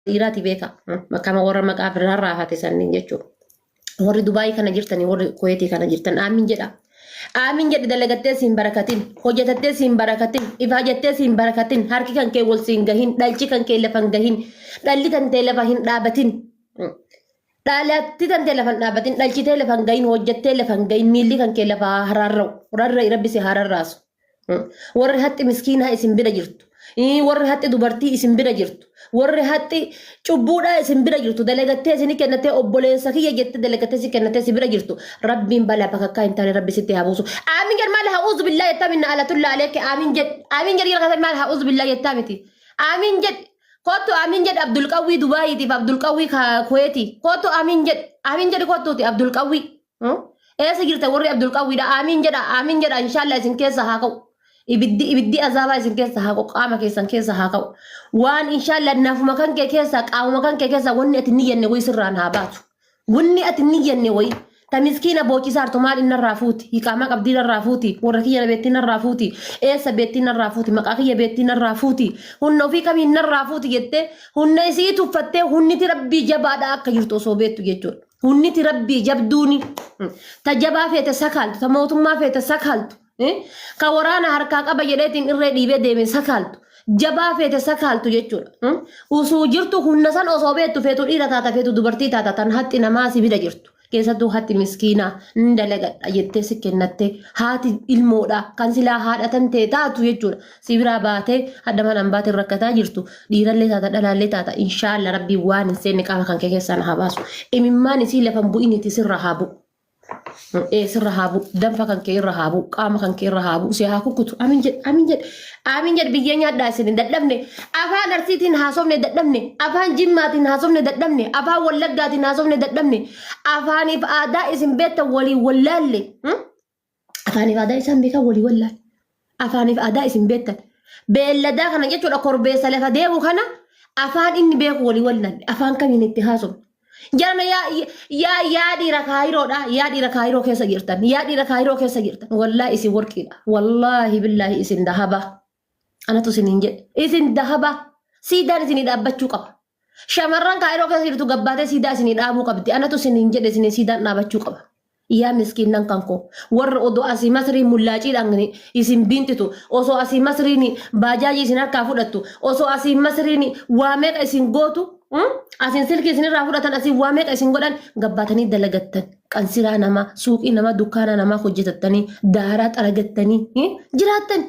dhiiraati beeka kama warra maqaa birraa raafate sanniin jechuudha. Warri Dubaayii kana jirtanii warri Kuweetii kana jirtan aamin jedha. Aamin jedhi dalagattee siin barakatin hojjetattee siin barakatin ifaajattee siin barakatin harki kan kee wal siin gahin dhalchi kan kee lafa hin gahin dhalli kan tee lafa hin dhaabatin. Dhaalatti tantee lafan dhaabatin dhalchitee lafan gahin hojjettee lafan gahin miilli kan kee lafa haa haraarra'u rarra'i rabbi si haa rarraasu. Mm. Warri haxxi miskiinaa isin bira jirtu. Ii, Warri haxxi dubartii isin bira jirtu. Warri haxxi cubbuudhaa isin bira jirtu. Dalagattee isin kennatee obboleessa kiyya jettee dalagattee si kennatee si bira jirtu. Rabbiin balaa bakka akkaa hin taane rabbi sitti haa buusu. Aamin jedh maal haa uuzu billaa jettaa minna alatulla aleekke aamin jedh. Aamin jedh jedh maal haa uuzu billaa jettaa miti. Aamin jedh Kottu Amin jedhi Abdul Qawwii Dubaayiitiif Abdul Qawwii ka Kuweetiif. Kottu Amin jedhi. Amin jedhi kottuuti Abdul Qawwii. Hmm? Eessa jirta warri Abdul Qawwiidha? Amin jedha. Amin jedha inshaallaa isin keessa haa ka'u. Ibiddi ibiddi azaabaa isin keessa haa ka'u. Qaama keessan keessa haa ka'u. Waan inshaallaa nafuma kan kee keessaa qaamuma kan kee keessaa wanni ati hin niyyanne wayi sirraan haa baatu. Wanni ati inni jenne wayi. Ta miskiina boochisaa artu maal inni irraa fuuti. Hiqaamaa qabdii irraa fuuti. Warra kiyya beettiin irraa fuuti. Eessa beettiin irraa fuuti. Maqaa kiyya beettiin irraa fuuti. Hunna ofii kamiin irraa fuuti jettee hunna isii tuffattee hunniti rabbii jabaadha akka jirtu osoo beettu jechuudha. Hunniti rabbii jabduuni. Ta jabaa feete sakaaltu. Ta mootummaa feete sakaaltu. Eh, ka waraana harkaa qaba jedheetiin irree dhiibee deeme sakaaltu jabaa feete sakaaltu jechuudha Hmm? usuu jirtu humna san osoo beektu feetu dhiira taata feetu dubartii taata tan hatti namaa si bira jirtu keessattuu hatti miskiinaa hin dalagadha jettee si kennatte haati ilmoodha kan silaa haadha tan ta'e taatu jechuudha si biraa baatee hadha manaan baatee rakkataa jirtu dhiirallee taata dhalaallee taata inshaalla rabbii waan hin seenne qaama kan kee keessaa na haa baasu imimmaan isii lafan bu'initi sirra haa bu'u. Ee sirra haa bu'u. Danfa kan kee irra haa bu'u. Qaama kan kee irra haa bu'u. Si haa kukkutu. Amiin jedhe. Amiin jedhe. Amiin jedhe biyyee nyaadhaa isin dadhabne. Afaan Arsiitiin haasofne dadhabne. Afaan Jimmaatiin haasofne dadhabne. Afaan Wallaggaatiin haasofne dadhabne. Afaaniif aadaa isin beektan waliin wallaalle. Hmm? afaaniif aadaa isaan beekan walii wallaale. Afaaniif aadaa isin beektan. Beelladaa kana jechuudha korbeessa lafa deemu kana afaan inni beeku walii wallaale. Afaan kamiin itti haasofna. Jarana yaa yaa yaa dhiira kaayiroodha. Yaa dhiira kaayiroo keessa jirtan. Yaa dhiira kaayiroo keessa jirtan. Wallaahi isin warqiidha. Wallaahi billaahi isin dahaba. Anatu isiniin jedhe. Isin dahaba. Siidaan isinii dhaabbachuu qaba. Shamarran kaayiroo keessa jirtu gabbaatee siidaa isinii dhaabuu qabdi. Anatu isiniin jedhe isinii siidaan dhaabachuu qaba. Yaa miskiinnan kan koo warra odoo asii masrii mullaaciidhaan isin biintitu osoo asii masriin baajaajii isin harkaa fudhattu osoo asii masriin waa meeqa isin gootu mm, asiin silkii isin irraa fudhatan asiin waa meeqa isin godhan gabbaatanii dalagattan qansiraa namaa suuqii namaa dukkaanaa namaa hojjetattanii daaraa xaragattanii mm, jiraattan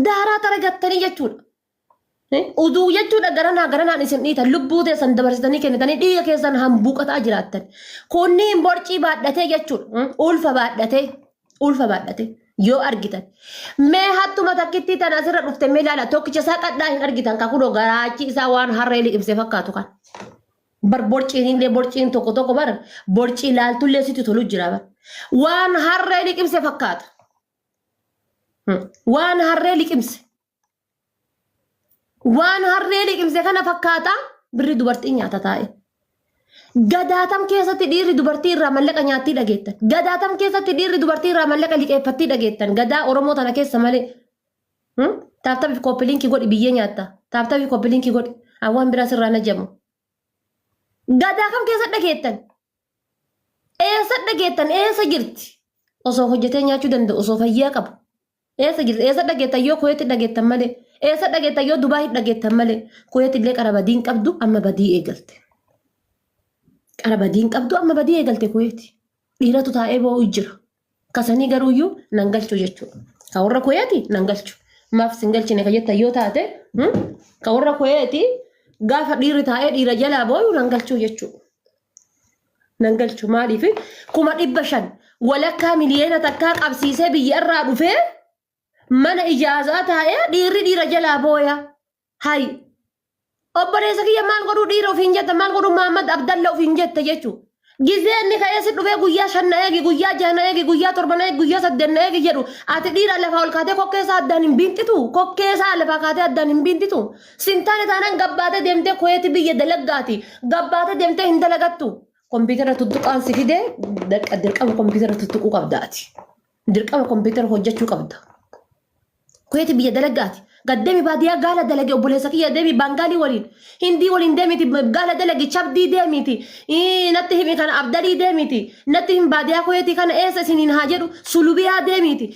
Daaraa taragattanii jechuudha. Uduu jechuudha garanaa garanaan isin dhiitan lubbuu teessan dabarsitanii kennitanii dhiiga keessan hambuuqataa jiraattan. Kunniin borcii baadhatee jechuudha. Ulfa baadhatee ulfa baadhatee yoo argitan. Mee hattuma takkittii tan asirra dhufte mee ilaala tokkicha isaa qadhaa hin argitan kan kunoo garaachi isaa waan harree liqimse fakkaatu kan. Bar borciin illee borciin tokko tokko bar borcii laaltullee sitti tolu jira bar. Waan harree liqimse fakkaata. Waan harree liqimse. Waan harree liqimse kana fakkaata birri dubartii nyaata taa'e. Gadaatam keessatti dhiirri dubartii irraa mallaqa nyaattii dhageettan. Gadaatam keessatti dhiirri dubartii irraa mallaqa liqeeffattii dhageettan. Gadaa Oromoo tana keessa malee. Taaptabii koppiliinkii godhi biyyee nyaatta. Taaptabii koppiliinkii godhi. Awwaan biraa sirraa najamu. Gadaa kam keessa dhageettan? Eessa dhageettan? Eessa jirti? Osoo hojjetee nyaachuu danda'u, osoo fayyaa qabu. Eessa jirti? Eessa dhageettan yoo Kuweetti dhageettan malee? Eessa dhageettan yoo Dubaayii dhageettan malee? Kuweetti illee qara badii hin qabdu amma badii eegalte. Qara badii hin qabdu amma badii eegalte Kuweetti. Dhiiratu taa'ee boo'u jira. kasanii garuuyyuu nan galchu jechuudha. Ka warra koyeeti nan galchu. Maaf sin galchine ka jettan yoo taate hmm? ka warra koyeeti gaafa dhiirri taa'ee dhiira jalaa booyu nan galchu jechuudha. Nan galchu maaliif kuma dhibba shan walakkaa miliyoona takkaa qabsiisee biyya irraa dhufee mana ijaazaa taa'ee dhiirri dhiira jalaa booya. Hay. Obboleessa kiyya maal godhuu dhiira ofiin jetta maal godhuu Muhammad Abdalla ofiin jetta jechuu. Gizee inni ka'ee si dhufee guyyaa shan na eegi guyyaa jaha na eegi guyyaa torba na eegi guyyaa saddeet na eegi jedhu ati dhiira lafaa ol kaatee kokkee isaa addaan hin biinxitu kokkee isaa lafaa kaatee addaan hin biinxitu sintaane taanaan gabbaatee deemtee koyeeti biyya dalaggaati gabbaatee deemtee hin dalagattu kompiitara tuttuqaan si fidee dirqama kompiitara tuttuquu qabda ati. Dirqama kompiitara hojjechuu qabda. Kuweeti biyya dalagaati. Gad deemi baadiyyaa gaala dalage obboleessa kiyya deemi baangaalii waliin. Hindii waliin deemiti gaala dalage chabdii deemiti. Ii, Natti himi kana abdalii deemiti. Natti himi baadiyyaa kuweetii kana eessa isiniin haa jedhu sulubiyaa deemiti.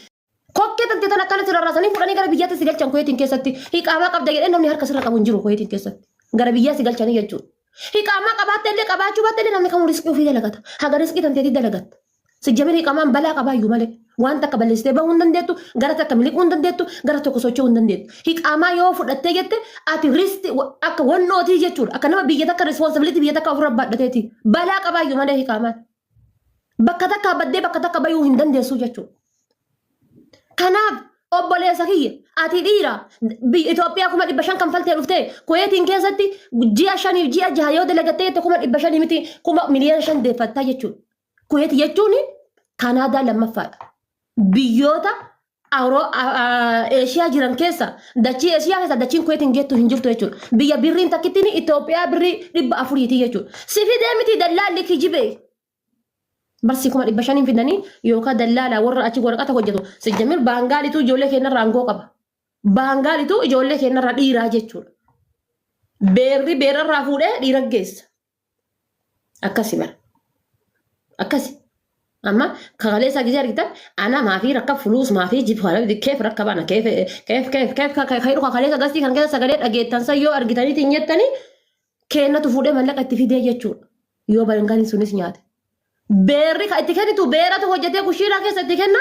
Kokkee tante tan akkana sirra raasanii fudhanii gara biyyaatti si galchan kuweetiin keessatti. Hiqaamaa qabda jedhee namni harka sirra qabu hin jiru kuweetiin keessatti. Gara biyyaa si galchanii jechuudha. Hiqaamaa qabaattee illee qabaachuu baatte illee namni kamuu riskii ofii dalagata. Haga riskii tanteetii dalagatta. Sijjamir hiqaamaan balaa qabaayyuu malee. Waan takka balleessitee bahuu hin dandeettu, gara takka miliquu hin dandeettu, gara tokko socho'uu hin dandeettu. Hiqaamaa yoo fudhattee jette ati riskii akka wannootii jechuudha. Akka nama biyya takka responsibility biyya takka ofirra baadhateeti. Balaa qabaayyuu malee hiqaamaan. Bakka takka baddee bakka takka bayuu hin dandeessuu jechuudha. Kanaaf obboleessa kiyya ati dhiira biyya Itoophiyaa kuma dhibba shan kanfaltee dhuftee Kuweetiin keessatti ji'a shaniif ji'a jaha yoo dalagattee jette kuma dhibba shanii miti kuma miliyoona shan deeffattaa jechuudha. Kuweeti jechuun Kanaadaa lammaffaadha. Biyyoota Awuroo- A- A- Eeshiyaa jiran keessa dachii Eeshiyaa keessa dachiin Kuweetiin geettu hin jirtu jechuudha. Biyya birriin takkittiin Itoophiyaa birrii dhibba afuriiti jechuudha. Si fidee miti dallaalli kijibee. Barsii kuma dhibba shaniin fidanii yookaan dallaalaa warra achi waraqata hojjetu. Sijjamir baangaalituu ijoollee keenyarraa aangoo qaba. Baangaalituu ijoollee keenyarraa dhiiraa jechuudha. Beerri beerarraa fuudhee dhiira geessa. Akkasi bara. Akkasi. Amma kaleessaa gisee argitan ana maafii rakka fuluus maafii jibu kana biti keef rakka baana keef keef keef keef ka ka dhuka kaleessa gastii kan keessa sagalee dhageettan san yoo argitaniitiin jettanii keennatu fuudhee mallaqa itti fidee jechuudha. Yoo barengani sunis nyaate. Beerri kan itti kennitu beeratu hojjetee kushiinaa keessa itti kenna.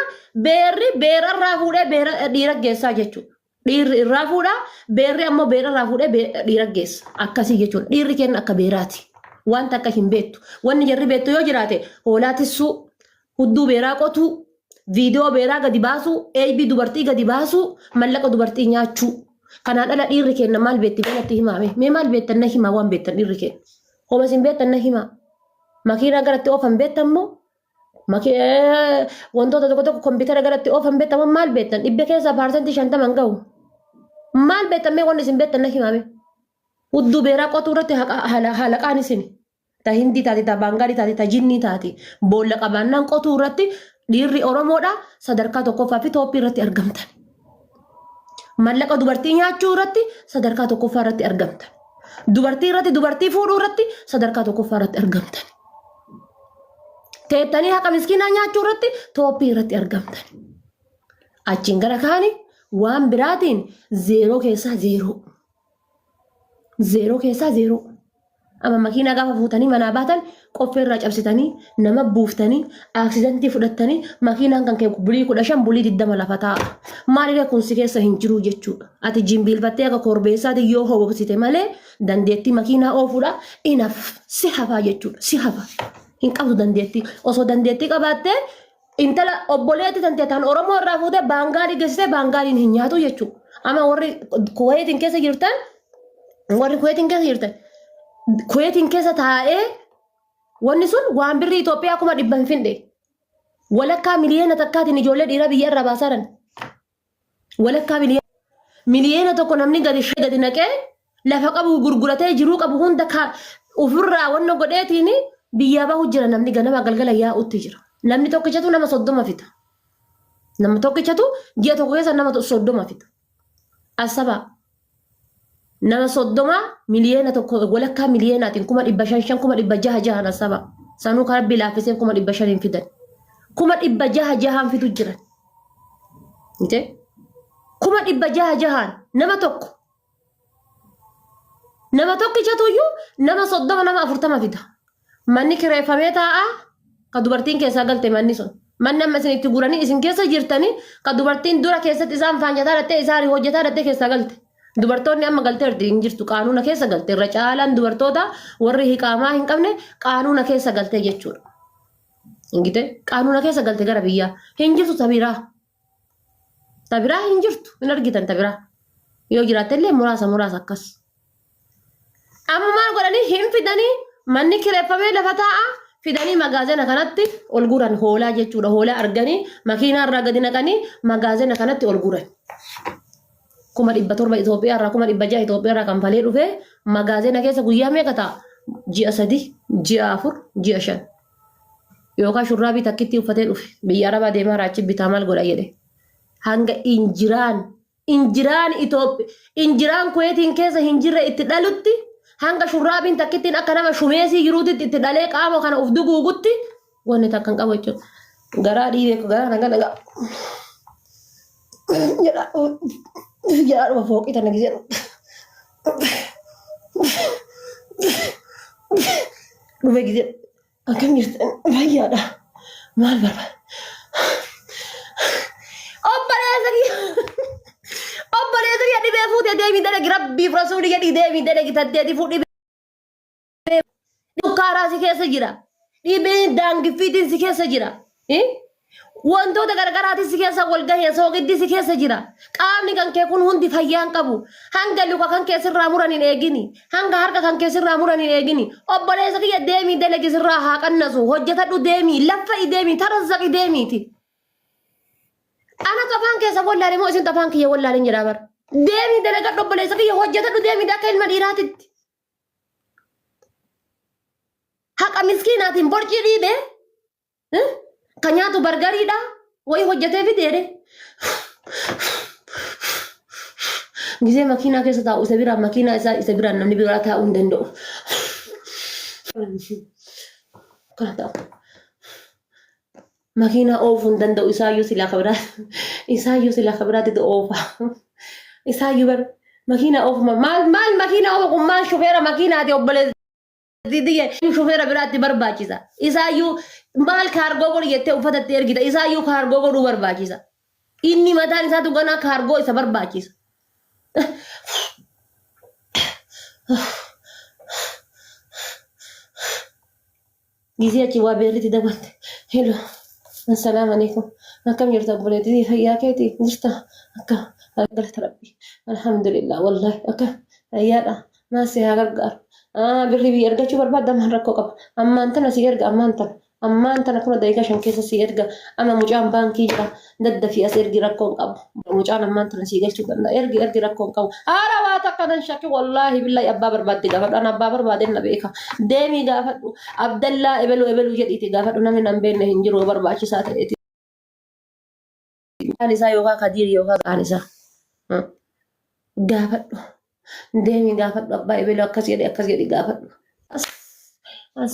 Beerri beera irraa fuudhee beera dhiira geessaa jechuudha. Dhiirri irraa fuudha. Beerri ammoo beera irraa fuudhee be- dhiira geessa. Akkasii jechuudha. Dhiirri kenna akka beeraati. Wanta akka hin beektu. Wanni jarri beektu yoo jiraate hoolaa tissuu, Hudduu beeraa qotuu, viidiyoo beeraa gadi baasuu, eeybii dubartii gadi baasuu, mallaqa dubartii nyaachuu. Kanaan ala dhiirri keenna maal beetti mee natti himaa mee? Mee maal beettan na himaa waan beettan dhiirri keenna? Homa isin beettan na himaa. Makiinaa garatti oofan beettan moo? Maki- eh, Wantoota tokko tokko kompiitara garatti oofan beettan moo maal beettan? Dhibba keessaa paarsantii shantama hin gahu. Maal beettan mee waan isin beettan na himaa mee? Hudduu beeraa qotuu irratti haqa- hala- halaqaan isini. ta hindii taate ta baangaalii taate ta jinnii taate boolla qabaannaan qotuu irratti dhiirri oromoodha sadarkaa tokkoffaa fi tooppii irratti argamtan mallaqa dubartii nyaachuu irratti sadarkaa tokkoffaa irratti argamtan dubartii irratti dubartii fuudhuu irratti sadarkaa tokkoffaa irratti argamtan teettanii haqa miskiinaa nyaachuu irratti tooppii irratti argamtan achiin gara kaani waan biraatiin zeeroo keessaa zeeroo. Zeeroo keessaa zeeroo. Amma makiinaa gaafa fuutanii manaa baatan qoffee irraa cabsitanii nama buuftanii aaksidantii fudhattanii makiinaan kan kee bulii kudha shan bulii digdama lafa taa'a. Maaliree kun si keessa hin jiru jechuudha. Ati jimbiilfattee akka korbeessaatiin yoo hooksite malee dandeettii makiinaa oofuudha inaf si hafaa jechuudha si hafa. Hin qabdu dandeettii osoo dandeettii qabaattee intala obboleetti tante tan Oromoo irraa fuute baangaalii geessite baangaaliin hin nyaatu jechuudha. Amma warri kuweetiin keessa jirtan warri kuweetiin keessa jirtan kuweetiin keessa taa'ee wanni sun waan birrii Itoophiyaa kuma dhibba hin findhe. Walakkaa miliyoona takkaatiin ijoollee dhiiraa biyya irraa baasaa jiran. Walakkaa miliyoona miliyoona tokko namni gadi shee gadi naqee lafa qabu gurguratee jiruu qabu hunda ka ofirraa wanna godheetiin biyyaa bahu jira namni ganama galgala yaa'utti jira. Namni tokkichatu nama soddoma fita. Nama tokkichatu ji'a tokko keessa nama soddoma fita. Asabaa Nama soddoma miliyoona tokko walakkaa miliyoonaatiin kuma dhibba shan shan kuma dhibba jaha jahan asaba. Sanuu kan rabbi laaffisee kuma dhibba shan hin fidan. Kuma dhibba jaha jahaan fidu jiran. Mite? Kuma dhibba jaha jahaan nama tokko. Nama tokkichatu iyyuu nama soddoma nama afurtama fida. Manni kireeffamee taa'a ka dubartiin keessaa galte manni sun. Manni amma isin itti guranii isin keessa jirtanii ka dubartiin dura keessatti isaan faanjataa dhattee isaan hojjetaa dhattee keessaa galte. Dubartoonni amma galteerti hin jirtu qaanuuna keessa galte irra caalaan dubartoota warri hiqaamaa hin qabne qaanuuna keessa galte jechuudha. Ingite qaanuuna keessa galte gara biyyaa hin jirtu tabiraa. Ta biraa hin jirtu hin argitan ta biraa. Yoo jiraatte illee muraasa muraasa akkas. Amma maal godhanii hin fidanii manni kireeffamee lafa taa'a fidanii magaazina kanatti ol guuran hoolaa jechuudha. Hoolaa arganii makiinaa irraa gadi naqanii magaazina kanatti ol guuran. Kuma dhibba torba Itoophiyaa irraa kuma dhibba ja'a Itoophiyaa irraa kan falee dhufee magaazina keessa guyyaa meeqa ta'a? Ji'a sadii, ji'a afur, ji'a shan. Yookaa shurraabii takkittii uffatee dhufe biyya arabaa deemaara achi bitaa maal godha jedhe hanga injiraan injiraan Itoophi injiraan kuweetiin keessa hin jirre itti dhalutti hanga shurraabiin takkittiin akka nama shumeesii jiruutitti itti dhalee qaama kana of duguugutti wanni takka hin qabu jechuudha. Garaa dhiibee ko garaa nagaa nagaa jedhaa jedhaa dhuma fooqii tana gisee. Dhume gide akkam jirtan fayyaadha maal barbaada? Obboleessa kiyya obboleessa kiyya dhibee fuutee deemii dalagi rabbiif rasuulii jedhii deemii dalagi tatteeti fuudhii Dhukkaaraa si keessa jira. Dhibee daangiffiitiin si keessa jira. Eh? Wantoota gargaraatiin si keessa wal gahee soogiddi si keessa jira. Qaamni kan kee kun hundi fayyaa hin qabu. Hanga luka kan kee sirraa muran hin eegini. Hanga harka kan kee sirraa muran hin eegini. Obboleessa kiyya deemii dalagi sirraa haa qannasu. Hojjetadhu deemii. Laffa'i deemii. Tarazzaqi deemiiti. Ana afaan keessa wallaale moo isin afaan kiyya wallaalen jedhaa bara. Deemii dalagadhu obboleessa kiyya hojjetadhu deemii akka ilma dhiiraatitti. Haqa miskiinaatiin borcii dhiibee eh, ka nyaatu bargariidha wayii hojjetee fideedhe. Gisee makiinaa keessa taa'u isa biraan makiinaa isaa isa biraan namni biraa taa'uu hin danda'u. Kana ta'a. Makiinaa oofuu hin danda'u isaayyuu silaa ka biraa isaayyuu silaa ka biraatti oofa. Isaayyuu bar makiinaa oofuma maal maal makiinaa oofa kun maal shufeera makiinaati obboleessa. Didiyye shufeera biraatti barbaachisa. Isaayyuu maal kaargoo godhi jettee uffata itti ergita. Isaayyuu kaargoo godhuu barbaachisa. Inni mataan isaatu ganaa kaargoo isa barbaachisa. Gisee achi waa beerritti dabalte. Hello. Assalaamu alaikum. Akkam jirta obboleettii fayyaa keetii jirta? Akka galata rabbi. Alhamdulillah wallahi akka fayyaadha. Maal si haa gargaaru? Ah birri biyya argachuu barbaadda maal rakkoo qaba? Ammaan tana si erga ammaan tana. Ammaan tana tuna daqiiqaa shan keessa sii erga ama mucaan baankii jira daddafii as ergi rakkoon qabu mucaan ammaan tana sii galchuu danda'a ergi ergi rakkoon qabu haala waa takka nan shakki wallaahi billaahi abbaa barbaadde gaafadhu an abbaa barbaadeen na beeka deemii gaafadhu abdallaa ebeluu ebeluu jedhiiti gaafadhu namni nan beenne hin jiru barbaachisaa ta'eeti mucaan isaa yookaa kadiir yookaa maqaan isaa Hmm. gaafadhu deemii gaafadhu abbaa ebeluu akkas jedhi akkas jedhi gaafadhu as as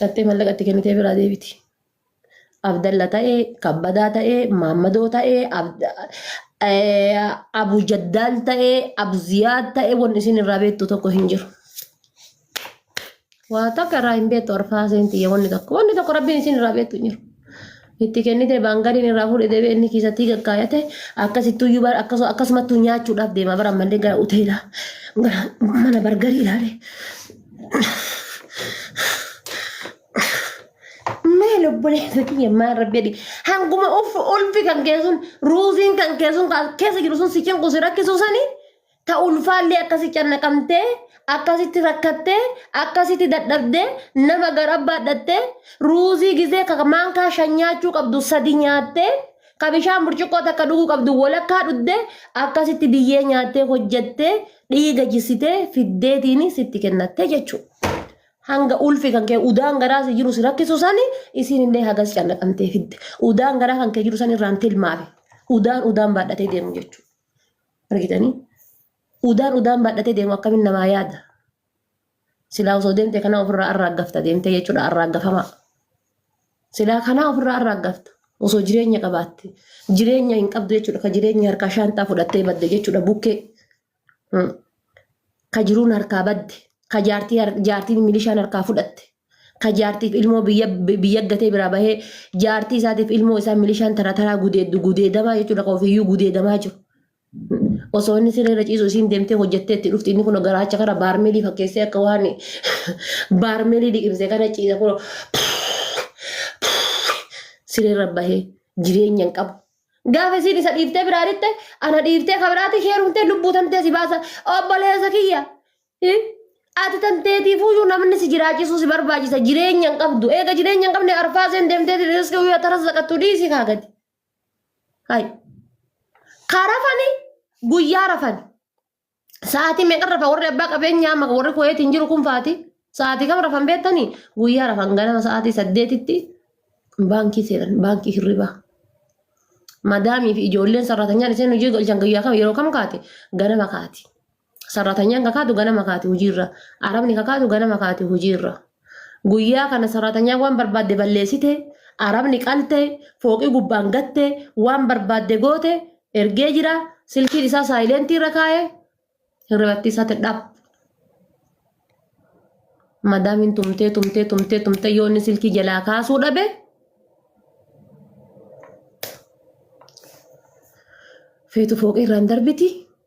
Dhattee mallaqa itti kennitee biraa deebiti. Abdalla ta'ee, kabbadaa ta'ee, maammadoo ta'ee, abu jaddaal ta'ee, abu ziyaad ta'ee wanni isin irraa beektu tokko hin jiru. Waa takka irraa hin beektu arfaa seentii wanni tokko. Wanni tokko rabbiin isin irraa beektu hin jiru. Itti kennite baangadiin irraa fuudhe deebi'e inni kiisattii gaggaayate akkasittuyyuu bara akkasu- akkasumattuu nyaachuudhaaf deema bara ammallee gara hoteelaa gara mana bargarii ilaalee maal obboleessa kiyya maal rabbi jedhi hanguma ulfi kan kee sun ruuziin kan kee sun kan keessa jiru sun si cinqu si rakkisu sanii ta ulfaallee akkasi cannaqamtee akkasitti rakkattee akkasitti dadhabdee nama gara baadhattee ruuzii gizee ka maankaa shan nyaachuu qabdu sadi nyaattee ka bishaan burcuqqoo takka dhuguu qabdu walakkaa dhuddee akkasitti biyyee nyaattee hojjattee dhiiga jisitee fiddeetiini sitti kennattee jechuudha. hanga ulfi kan kee udaan garaa si jiru si rakkisu sani isiin illee hagas cannaqamtee fidde udaan garaa kan kee jiru san irraan tilmaame udaan udaan baadhatee deemu jechuudha. Argitanii? Udaan udaan baadhatee deemu akkamin namaa yaada? Silaa osoo deemte kanaa ofirraa arraaggafta deemtee jechuudha arraaggafamaa. Silaa kanaa ofirraa arraaggafta. Osoo jireenya qabaatte. Jireenya hin qabdu jechuudha. Ka jireenya harkaa shaantaa fudhattee badde jechuudha bukkee. Ka jiruun harkaa badde. Ka jaartii har- jaartiin milishaan harkaa fudhatte. ka jaartiif ilmoo biyya biyya gatee biraa bahee jaartii isaatiif ilmoo isaa milishaan tara taraa gudeeddu gudeedamaa jechuudha ka ofiiyyuu gudeedamaa jiru. Osoo inni siree irra ciisu isiin deemtee hojjettee itti dhufti inni kun garaacha kana baarmeelii fakkeessee akka waan baarmeelii liqimsee kana ciisa kun siree irra bahee jireenya hin qabu. Gaafa isiin isa dhiiftee biraa dhitte ana dhiiftee ka biraatti ishee heerumtee lubbuu tantee si baasa obboleessa kiyya Hi? Ati tan teetiifuyyuu namni si jiraachisuu si barbaachisa jireenya hin qabdu. Eega jireenya hin qabne arfaaseen deemtee riskii guyyaa taras zaqattu dhiisii kaa gadi. Hai. Kaa rafani guyyaa rafani. Sa'aatii meeqa rafa warri abbaa qabeenyaa maka warri kuweetiin jiru kun faati. Sa'aatii kam rafan beektanii guyyaa rafan ganama sa'aatii saddeetitti baankii seenan baankii hirribaa. Madaamii fi ijoolleen sarratanyaan isheen hojii galchan guyyaa kam yeroo kam kaate ganama kaati. Sarratanyaan kakaatu ganama kaati hojiirra. Arabni kakaatu ganama kaati hojiirra. Guyyaa kana sarratanyaan waan barbaadde balleessite, arabni qalte, fooqii gubbaan gatte, waan barbaadde goote, ergee jira, silkiin isaa saayileentii irra kaa'e, hirribattii isaatti dhap. Madaamiin tumtee tumtee tumtee tumtee yoo inni silkii jalaa kaasuu dhabe, feetu fooqii irraan darbiti.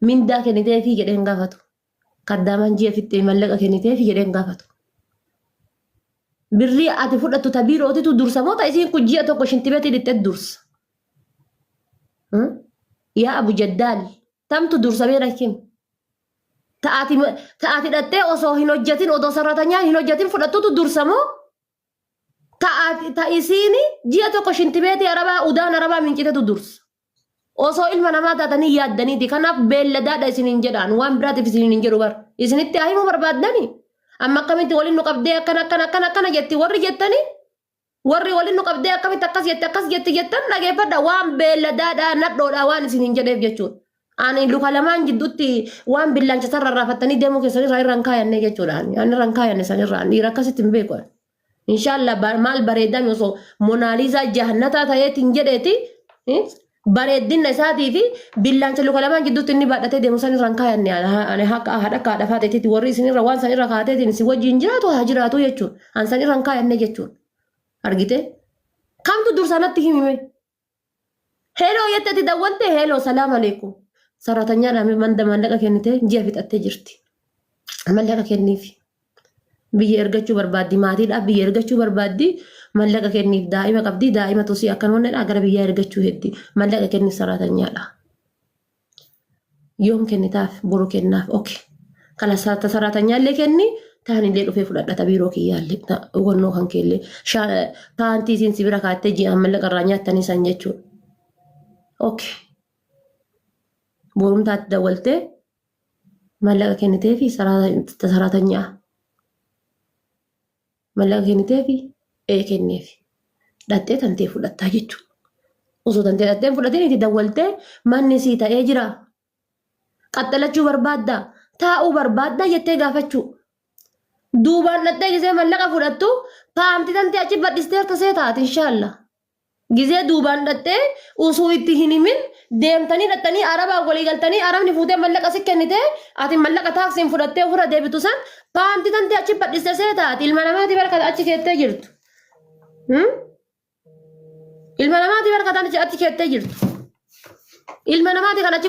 Mindaa kenniteefii jedhee hin gaafatu. Kaddaamaan ji'a fixxee mallaqa kenniteefii jedhee hin gaafatu. Birrii ati fudhattu ta biirootitu dursa moo ta isiin kun ji'a tokko shintibeetii dhiqxee dursa. Yaa Abu Jaddaal tamtu dursa beera kim? Ta ati ta ati dhaxxee osoo hin hojjetin odoo sarratanyaan hin hojjetin fudhattutu dursa moo? Ta ati ta isiini ji'a tokko shintibeetii arabaa udaan arabaa mincitetu dursa. Osoo ilma namaa taatanii yaaddaniiti. Kanaaf beelladaadha isiniin jedhaan. Waan biraatiif isiniin hin jedhu bar. Isinitti haa himuu barbaaddani. Amma akkamitti waliin nu qabdee akkana akkana akkana akkana jetti warri jettanii warri waliin nu qabdee akkamitti akkas jetti akkas jetti jettan dhageeffadha waan beelladaadha nadhoodha waan isiniin jedheef jechuudha. Ani luka lamaan jidduutti waan billaancha sarara raafattanii deemuu keessan irraa irra hin kaayanne jechuudha. Ani irra hin kaayanne san irraa dhiira akkasitti hin beeku. Inshallah bar- maal bareedame osoo monaalizaa jahannataa ta'eetiin jedheeti eh, bareeddinna isaatii fi billaancha luka lamaan jidduutti inni baadhatee deemu san irraan kaayanne ani ha- ani akka haadha akka haadha faateetitti warri isin irra waan san irra kaateetiin isin wajjin jiraatu haa jiraatu jechuun an san irraan kaayanne jechuun argite kamtu dursaa natti himime Heloo jette ati dawwalte heloo salaam aleekum. Saraatanyaa dhaame manda maallaqa kennite ji'a fixattee jirti. Mallaqa kenniif. Biyya ergachuu barbaaddi maatiidhaaf biyya ergachuu barbaaddi mallaqa kenniif daa'ima qabdi daa'ima tosii akkan onnedha gara biyyaa ergachuu heddi mallaqa kenniif saraatanyaadha. Yoom kennitaaf boru kennaaf ok kana ta saraatanyaallee kenni taanillee dhufee fudhadha ta biiroo kiyyaallee ta hubannoo kan keellee sha- paantii isin si bira kaattee ji'aan mallaqa irraa nyaattanii san jechuudha. Ok borumtaatti dawwaltee mallaqa kennitee fi saraatanyaa. Mallaqa kenniteefi ee kenneefi. Dhaxxee tantee fudhattaa jechuudha. Osoo tantee dhaxxee hin fudhatiin itti dawwaltee manni sii ta'ee jira. Qaxxalachuu barbaadda. Taa'uu barbaadda jettee gaafachuu. Duubaan dhaxxee gisee mallaqa fudhattu paantii tantee achi badhisteerta see taati inshaalla. Gizee duubaan dhaxxee usuu itti hin himin deemtanii dhaxxanii arabaan walii galtanii arabni fuutee mallaqa si kennite ati mallaqa taaksiin fudhattee ofirra deebitu san paanti tante achi badhiste seeta ati ilma namaati barkata achi keettee jirtu. Hmm? Ilma namaati barkata achi achi keettee jirtu. Ilma namaati kan achi